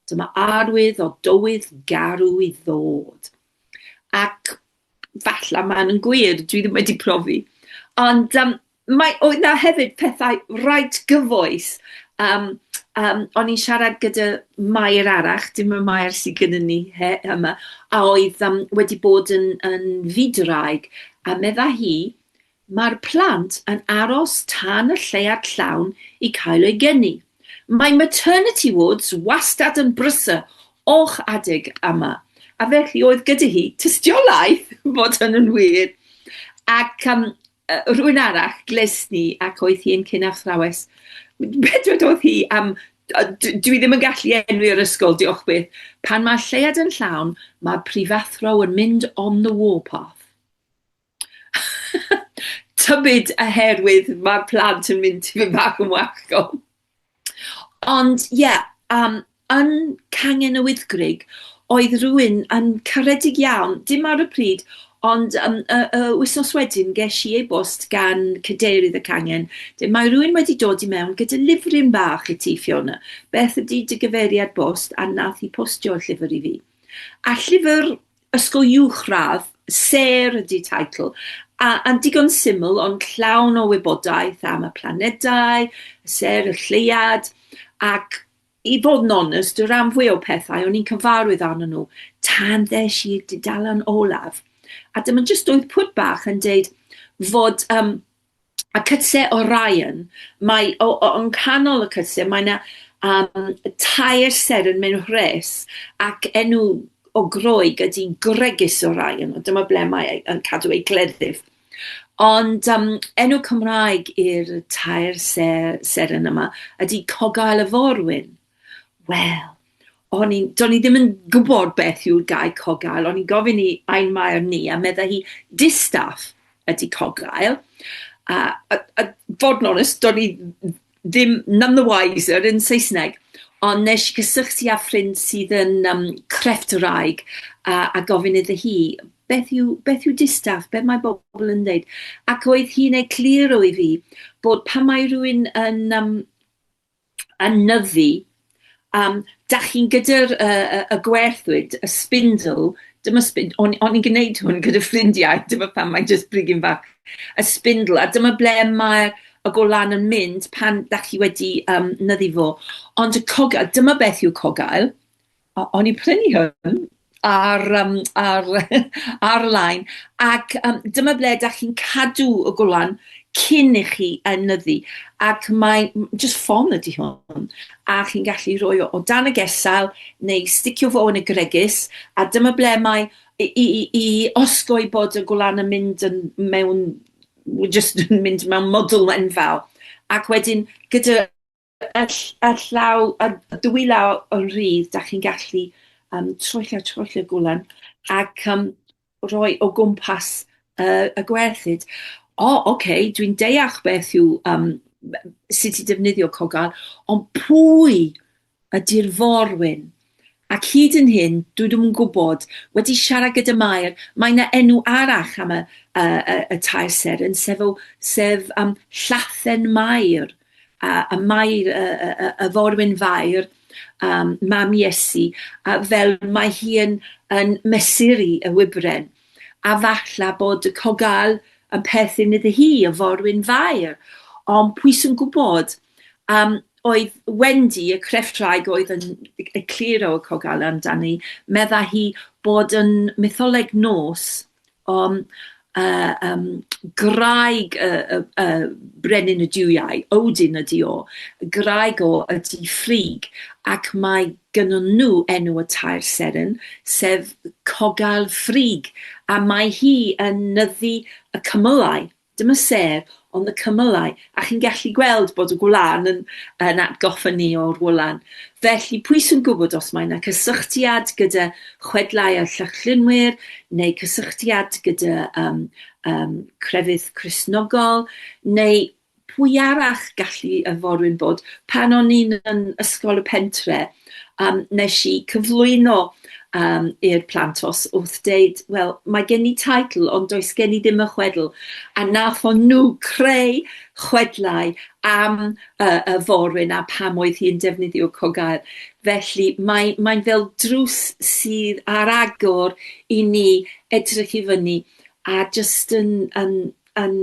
Dyma arwydd o dywydd garw i ddod. Ac falle mae'n yn gwir, dwi ddim wedi profi. Ond um, mae, oedd na hefyd pethau rhaid gyfoes. Um, um, o'n i'n siarad gyda Mair arach, dim y Mair sydd gyda ni he, yma, a oedd um, wedi bod yn, yn fyd-raig, a medda hi, Mae'r plant yn aros tan y lleuad llawn i cael eu geni. Mae maternity wards wastad yn brysur o'ch adeg yma, a felly oedd gyda hi tystiolaeth fod hynny'n wir. Ac um, rhywun arall gles ni ac oedd hi'n cyn athrawes. Be dwedodd hi am dwi ddim yn gallu enwi yr ysgol, diolch byth. Pan mae lleuad yn llawn, mae prifathro yn mynd on the warpath. tybid oherwydd ma'r plant yn mynd tipyn bach yn wallgof. Ond ie, yeah, um, yn Cangen y Wyddgrug, oedd rhywun yn caredig iawn, dim ar y pryd, ond um, y, y wythnos wedyn ges i e-bost gan cadeirydd y cangen, dweud mae rhywun wedi dod i mewn gyda lyfryn bach i ti, Fiona. Beth ydy dy gyfeiriad bost a nath i postio'r llyfr i fi? A llyfr Ysgol Uwchradd, sêr ydy teitl, a, a'n digon syml ond llawn o wybodaeth am y planedau, y sêr, y lleuad, ac i fod yn onest, y rhan fwy o pethau o'n i'n cyfarwydd arnyn nhw tan ddes i'r dudalen olaf. A dyma jyst oedd pwt bach yn deud fod um, a cytse o Ryan, mae o o yng nghanol y cytse mae 'na yym tair seren mewn rhes, ac enw o Groeg ydi Gregis o Ryan, a dyma ble mae ei yn cadw ei gleddyf. Ond yym enw Cymraeg i'r tair se- seren yma ydi Cogail y Forwyn. Wel, o'n i'n, do'n i ddim yn gwybod beth yw'r gair cogael, o'n i'n gofyn i ein maer ni, a medda hi, distaff ydy cogael. A, a, a fod yn onest, do'n i ddim none the wiser yn Saesneg, ond nes i gysylltu â ffrind sydd yn um, crefft yr aig, a, a gofyn iddo hi, beth yw, beth yw distaff, beth mae bobl yn dweud. Ac oedd hi'n egluro i fi bod pan mae rhywun yn um, anyddu am dach chi'n gyda'r yy yy y gwerthwyd y spindle dyma sbind- o'n o'n i'n gneud hwn gyda ffrindiau dyma pam mae'n jyst brigyn bach y spindle a dyma ble mae'r y golan yn mynd pan dach chi wedi yym nyddu fo ond y cogyl dyma beth yw cogail o- o'n i'n prynu hwn ar yym ar ar-lein ac yym dyma ble 'dach chi'n cadw y gwlan cyn i chi enyddu ac mae m- jyst ffon ydi hwn a chi'n gallu rhoi o o dan y gesail neu sticio fo yn y gwregys a dyma ble mae i i i i osgoi bod y gwlan yn mynd yn mewn w- jyst yn mynd mewn mwdl enfawr ac wedyn gyda Ar, ar llaw, ar dwy law o'n rhydd, da chi'n gallu um, troellio, troellio gwlan ac um, roi o gwmpas uh, y gwerthyd. O, oh, oce, okay, dwi'n deall beth yw um, sut i defnyddio cogal, ond pwy ydy'r forwyn? Ac hyd yn hyn, dwi ddim yn gwybod, wedi siarad gyda Mair, mae yna enw arall am y, y, y, y tair seren, sef, o, sef um, Llathen Mair, a, a Mair, y, y, y, y forwyn fair, um, mam Iesu, a fel mae hi yn, yn mesuri y wybren. A falla bod y cogal yn perthyn iddi hi, y forwyn fair. Ond pwy sy'n gwybod? Um, oedd Wendy, y crefftwraig oedd yn egluro y Cogale amdani, medda hi bod yn mytholeg nos um, uh, um, graig y, y, y brenin y diwiau, Odin ydi o, graig o ydi ffrig, ac mae gynnyn nhw enw y tair seren, sef Cogal Ffrig, a mae hi yn nyddu y cymylau Dyma sef ond y cymylau, a chi'n gallu gweld bod y gwlân yn, yn atgoffa ni o'r wlan. Felly, pwy sy'n gwybod os mae yna cysylltiad gyda chwedlau'r Llychlynwyr, neu cysylltiad gyda um, um, crefydd Cresnogol, neu pwy arall gallu y forwyn bod pan o'n i'n yn ysgol y pentre, um, nes i cyflwyno um, i'r plant os wrth deud, wel, mae gen i taitl, ond does gen i ddim y chwedl. A nath o'n nhw creu chwedlau am uh, y forwyn a pam oedd hi'n defnyddio cogael. Felly mae'n mae, mae fel drws sydd ar agor i ni edrych i fyny a jyst yn, yn yn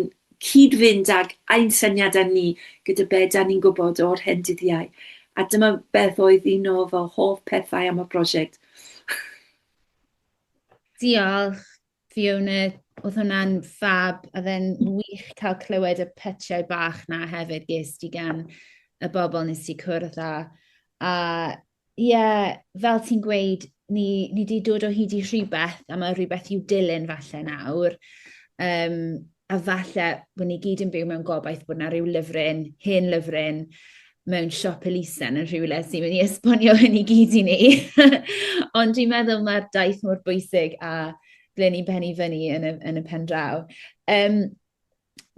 cyd-fynd ag ein syniadau ni gyda be da ni'n gwybod o'r hen dyddiau. A dyma beth oedd un o fy hoff pethau am y prosiect. Diolch, Fiona. Oedd hwnna'n fab, a fe'n wych cael clywed y pytiau bach na hefyd ges di gan y bobl nes ti cwrdd â. A Ie, fel ti'n gweud, ni ni 'di dod o hyd i rhywbeth, a mae rhywbeth i'w dilyn falle nawr. Um, a falle bod ni gyd yn byw mewn gobaith bod yna rhyw lyfryn, hen lyfryn, mewn siop elusen yn rhywle sy'n mynd i esbonio hyn i gyd i ni. Ond dwi'n meddwl mae'r daith mor bwysig a ble ni'n penni fyny yn y, yn y pen draw. Um,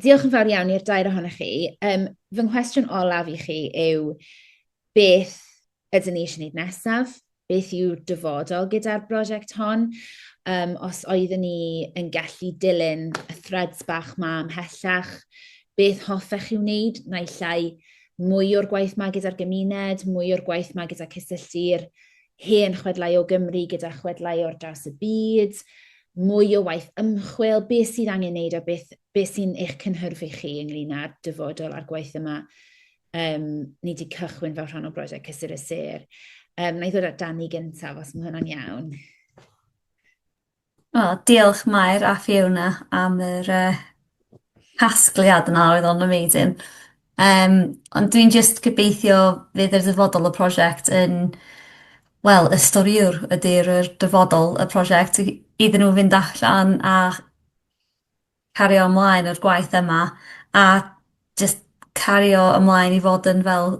diolch yn fawr iawn i'r dair ohonych chi. Um, fy nghwestiwn olaf i chi yw, beth ydyn ni eisiau gwneud nesaf, beth yw'r dyfodol gyda'r brosiect hon. Um, os oeddwn ni yn gallu dilyn y threads bach ma ymhellach, beth hoffech chi wneud, naill llai mwy o'r gwaith ma gyda'r gymuned, mwy o'r gwaith ma gyda cysylltu'r hen chwedlau o Gymru gyda chwedlau o'r draws y byd, mwy o waith ymchwil, beth sydd angen wneud a beth, beth sy'n eich cynhyrfu chi ynglyn â'r dyfodol a'r gwaith yma Um, ni wedi cychwyn fel rhan o brosiect Cysur y Sir. Um, na i ddod at Dani gyntaf, os mae hwnna'n iawn. O, diolch Mair a Fiona am yr uh, casgliad yna, oedd o'n amazing. Um, ond dwi'n just gobeithio fydd yr ddyfodol y prosiect yn wel, y storiwr ydy'r dyfodol y prosiect iddyn nhw fynd allan a cario ymlaen â'r gwaith yma a jyst cario ymlaen i fod yn fel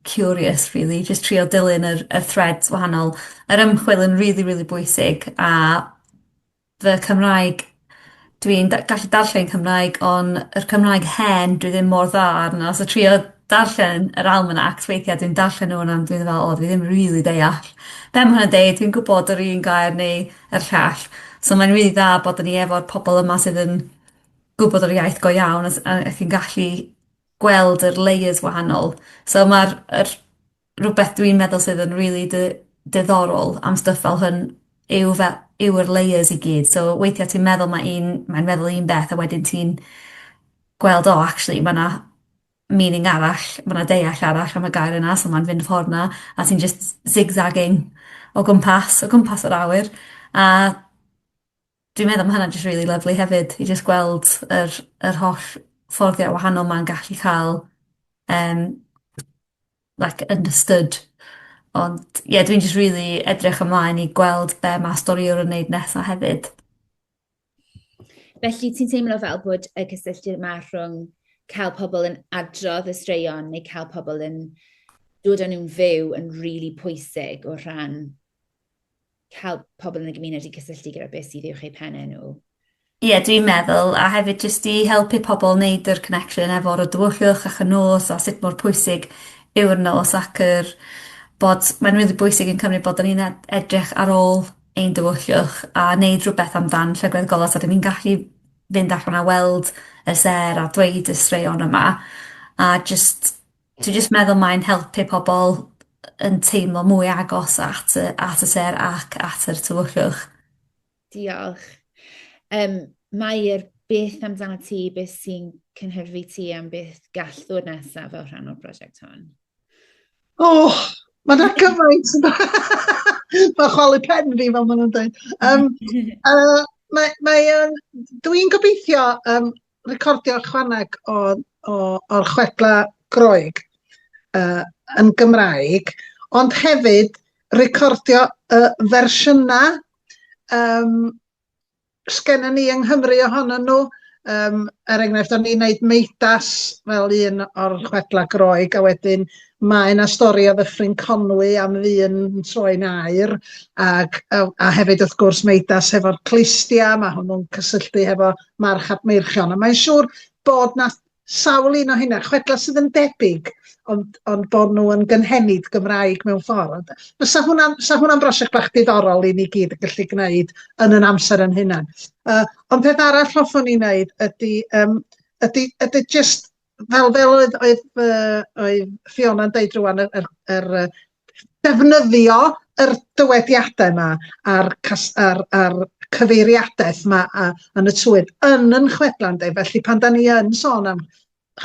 curious rili jyst trio dilyn yr y threads wahanol. Yr ymchwil yn rili rili bwysig a fy Cymraeg dwi'n da- gallu darllen Cymraeg on' yr Cymraeg hen dwi ddim mor dda arno so trio darllen yr almanacs weithia' dwi'n darllen nw a dwi me'wl o dwi ddim rili deall be' ma' hwnna'n deud dwi'n gwbod yr un gair neu a'r llall. So mae'n rili dda bod 'da ni efo'r pobol yma sydd yn gwbod yr iaith go iawn a s- a ac yn gallu gweld yr layers wahanol. So ma'r yr rwbeth dwi'n meddwl sydd yn rili dy- diddorol am stwff fel hwn yw fe- yw yr layers i gyd so weithia' ti'n meddwl ma' un mae'n meddwl un beth a wedyn ti'n gweld o actually ma' 'na meaning arall, ma' 'na deall arall am y gair yna so ma'n fynd y ffordd 'na a ti'n jyst zig-zagging o gwmpas o gwmpas yr awyr a dwi'n meddwl ma' hwnna'n jyst rili lyfli hefyd i jyst gweld yr yr holl fforddiau wahanol 'ma'n gallu ca'l yym like understood ond ie dwi'n jyst rili edrych ymlaen i gweld be' ma' storïwr yn neud nesa hefyd. Felly, ti'n teimlo fel bod y cysylltu yma rhwng cael pobl yn adrodd y straeon neu cael pobl yn dod â nhw'n fyw yn rili really pwysig o rhan cael pobl yn y gymuned i cysylltu gyda beth sydd i'w chei pennau nhw. Ie, yeah, dwi'n meddwl, a hefyd jyst i helpu pobl wneud yr connection efo'r o dywyllwch ac y nos a sut mor pwysig yw'r nos ac yr bod mae'n rili bwysig yn Cymru bod ni'n edrych ar ôl ein diwylliwch a neud rhywbeth amdan llygad golau so 'dyn ni'n gallu fynd allan a weld y sêr a dweud y straeon yma a jyst dwi jyst meddwl mae'n helpu pobol yn teimlo mwy agos at y at y sêr ac at yr tywyllwch. Diolch. Um, Mae'r beth amdano ti, beth sy'n cynhyrfu ti am beth gall ddod nesaf fel rhan o'r prosiect hon? O! Ma' 'na gymaint yn ma' chwalu pen fi fel ma' nw'n deud. Yym yy mae mae o'n dwi'n gobeithio yym recordio chwaneg o o o'r chwedla Groeg yy yn Gymraeg ond hefyd recordio y fersiynau yym sgenna ni yng Nghymru ohonyn nhw. Um, er enghraifft, o'n i'n neud meidas fel un o'r chwedla Groeg, a wedyn mae yna stori o ddyffryn Conwy am ddyn yn troi'n air, ac, a, a hefyd wrth gwrs meidas hefo'r clistia, mae hwnnw'n cysylltu hefo march Meirchion, a mae'n siŵr bod na sawl un o hynna, chwedlau sydd yn debyg, ond, ond bod nhw yn gynhenid Gymraeg mewn ffordd. Fysa hwnna'n fysa hwnna'n brosiect bach diddorol i ni gyd yn gallu gwneud yn yn amser yn hunan. Uh, ond peth arall hoffwn ni wneud ydy, um, ydy, ydy just fel fel oedd oedd, uh, oedd Fiona'n deud rwan yr, yr, yr defnyddio yr dywediadau yma a'r cas- a'r a'r cyfeiriadaeth 'ma a yn y twydd yn 'yn chwedla ynde felly pan 'dan ni yn sôn am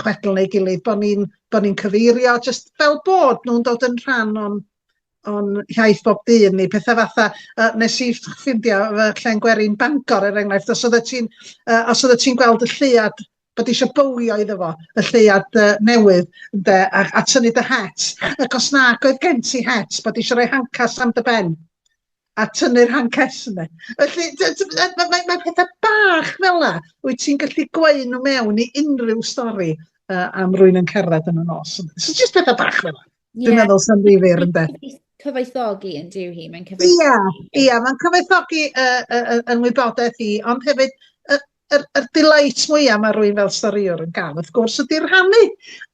chwedl neu gilydd bo' ni'n bo' ni'n cyfeirio jyst fel bod nhw'n dod yn rhan o'n o'n hiaith bob dydd ni petha fatha yy nes i ff- ffindio fy llên gwerin Bangor er enghraifft os oeddet ti'n yy os oeddet ti'n gweld y lleuad bod eisiau bowlio iddo fo, y lleuad uh, newydd, ynde, a, a tynnu dy het. Ac os na, oedd gen ti het, bod eisiau rhoi hancas am dy ben a tynnu'r hancas yna. Felly, mae ma, ma pethau bach fel yna, wyt ti'n gallu gweud nhw mewn i unrhyw stori uh, am rwy'n yn cerdded yn y nos. So, just pethau bach fel yna. Dwi'n yeah. meddwl sy'n ddifir yn beth. Cyfoethogi yn diw hi, mae'n cyfoethogi. Ia, ia, mae'n cyfoethogi uh, uh, yn wybodaeth i, ond hefyd yr yr delight mwya ma' rywun fel storïwr yn ga'l wrth gwrs ydi rhannu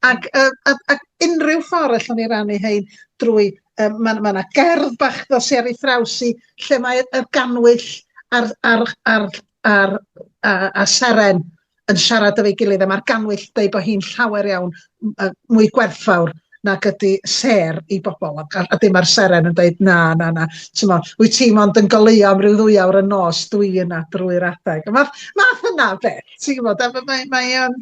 ac yy a a unrhyw ffor allwn ni rannu hein drwy yy ma' ma' 'na gerdd bach dos i ar ei thraws hi lle mae y gannwyll a'r a'r a'r a'r a a seren yn siarad efo'i gilydd a ma'r gannwyll deu bo hi'n llawer iawn yy mwy gwerthfawr nag ydi sêr i bobl a, a, a dim ar seren yn dweud na, na, na, ti'n mo, wyt ti mond yn goleuo am ryw ddwy awr y nos dwi yna drwy'r adeg. Mae math yna o beth, ti'n gwybod, mae, mae, mae, um,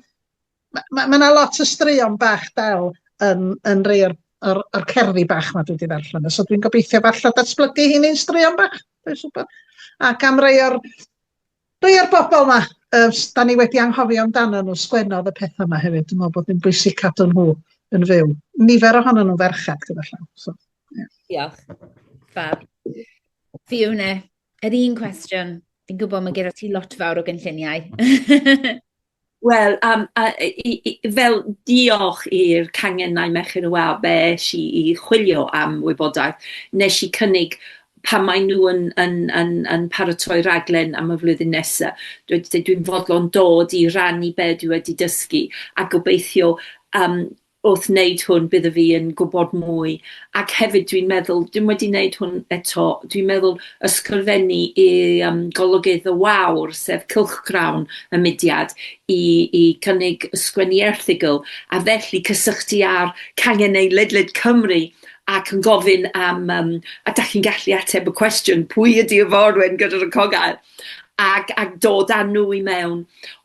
mae, mae, mae yna lot o straeon bach del yn, yn rei o'r, or, or cerddi bach mae dwi wedi ddarllen, so dwi'n gobeithio falle datblygu hi'n ein straeon bach, dwi'n siŵr. Ac am rei o'r Rhei o'r bobl 'ma yy s- 'dan ni wedi anghofio amdanyn nhw, sgwennodd y petha 'ma hefyd, dwi'n meddwl bod hi'n bwysig cadw nhw yn fyw. Nifer ohonyn nhw'n ferched gyda llaw, so ie. Diolch. Fab. Fiona, yr un cwestiwn. Fi'n gwybod mae gyda ti lot fawr o gynlluniau. Wel, am- a- i- i- i- fel diolch i'r cangennau Merched y Wawr fe es i i chwilio am wybodaeth. Nes i cynnig pan mae nhw yn yn yn yn paratoi raglen am y flwyddyn nesa, dwi 'di deud dwi'n fodlon dod i rannu be' dwi wedi dysgu, a gobeithio yym wrth wneud hwn bydda fi yn gwybod mwy, ac hefyd dwi'n meddwl, dwi'm wedi neud hwn eto, dwi'n meddwl ysgrifennu i yym Golygydd y Wawr, sef cylchgrawn y mudiad, i i cynnig ysgrifennu erthygl, a felly cysylltu â'r canghennau ledled Cymru ac yn gofyn am yym a 'dach chi'n gallu ateb y cwestiwn pwy ydi Iforwen gyda'r y cogaer? ac ac dod â nhw i mewn.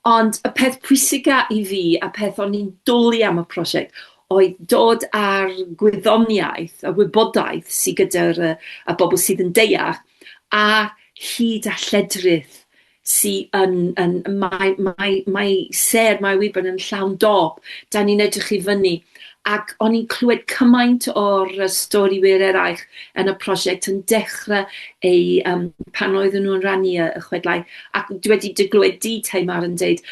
Ond y peth pwysica i fi, a peth o'n i'n dwli am y prosiect, oedd dod â'r gwyddoniaeth, y wybodaeth sydd gyda'r y y bobl sydd yn deall, a hyd a lledrith sy yn yn... Mae mae mae sêr, mae Wiburn yn llawn dop, 'dan ni'n edrych i fyny ac o'n i'n clywed cymaint o'r yy stori wir eraill yn y prosiect yn dechre eu yym pan oedden nhw'n rannu y y chwedlau, ac dwi wedi dy glywed di Tamar yn deud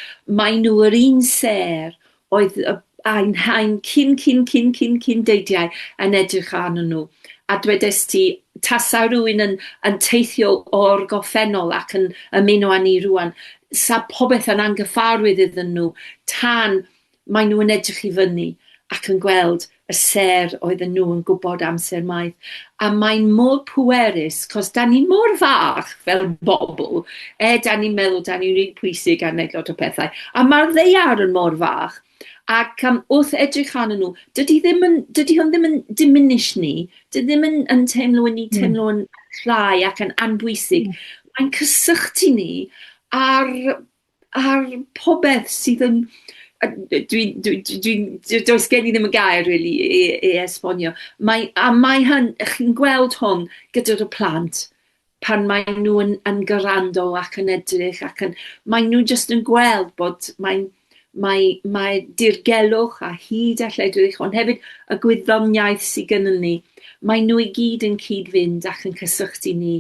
mae nhw yr un sêr oedd y ein haen cyn cyn cyn cyn cyn deidiau yn edrych arnyn nhw, a dwedes ti tasa rywun yn yn teithio o'r goffennol ac yn ymuno â ni rŵan, 'sa popeth yn anghyffarwydd iddyn nhw tan Maen nhw yn edrych i fyny ac yn gweld y sêr oedden nhw yn gwybod amser maith. A mae'n mor pwerus, cos da ni mor fach fel bobl, e, da ni'n meddwl da ni'n rili pwysig a wneud lot o pethau, a mae'r ddaear yn mor fach, ac um, wrth edrych arnyn nhw, dydy, ddim yn, dydy hwn ddim yn diminish ni, dydy ddim yn, yn teimlo yn ni hmm. teimlo yn llai ac yn anbwysig. Mm. Mae'n cysylltu ni ar ar popeth sydd yn a d- dwi'n dwi dwi dwi'n d- does gen i ddim y gair rili i i i esbonio. Mae a mae hyn chi'n gweld hwn gyda dy plant pan mae nw yn yn grando ac yn edrych ac yn mae nw jyst yn gweld bod mae'n mae mae dirgelwch a hud a lledrith ond hefyd y gwyddoniaeth sy gynnon ni, mae nw i gyd yn cyd-fynd ac yn cysylltu ni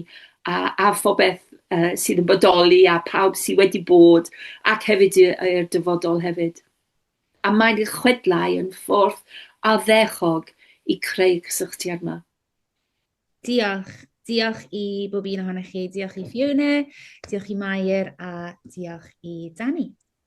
a a phobeth yy sydd yn bodoli a pawb sydd wedi bod ac hefyd y y i'r dyfodol hefyd. A mae'n eich chwedlau yn ffordd addechog i creu cysylltiad 'ma. Diolch. Diolch i bob un ohonoch chi. Diolch i Fiona, diolch i Mair a diolch i Danny.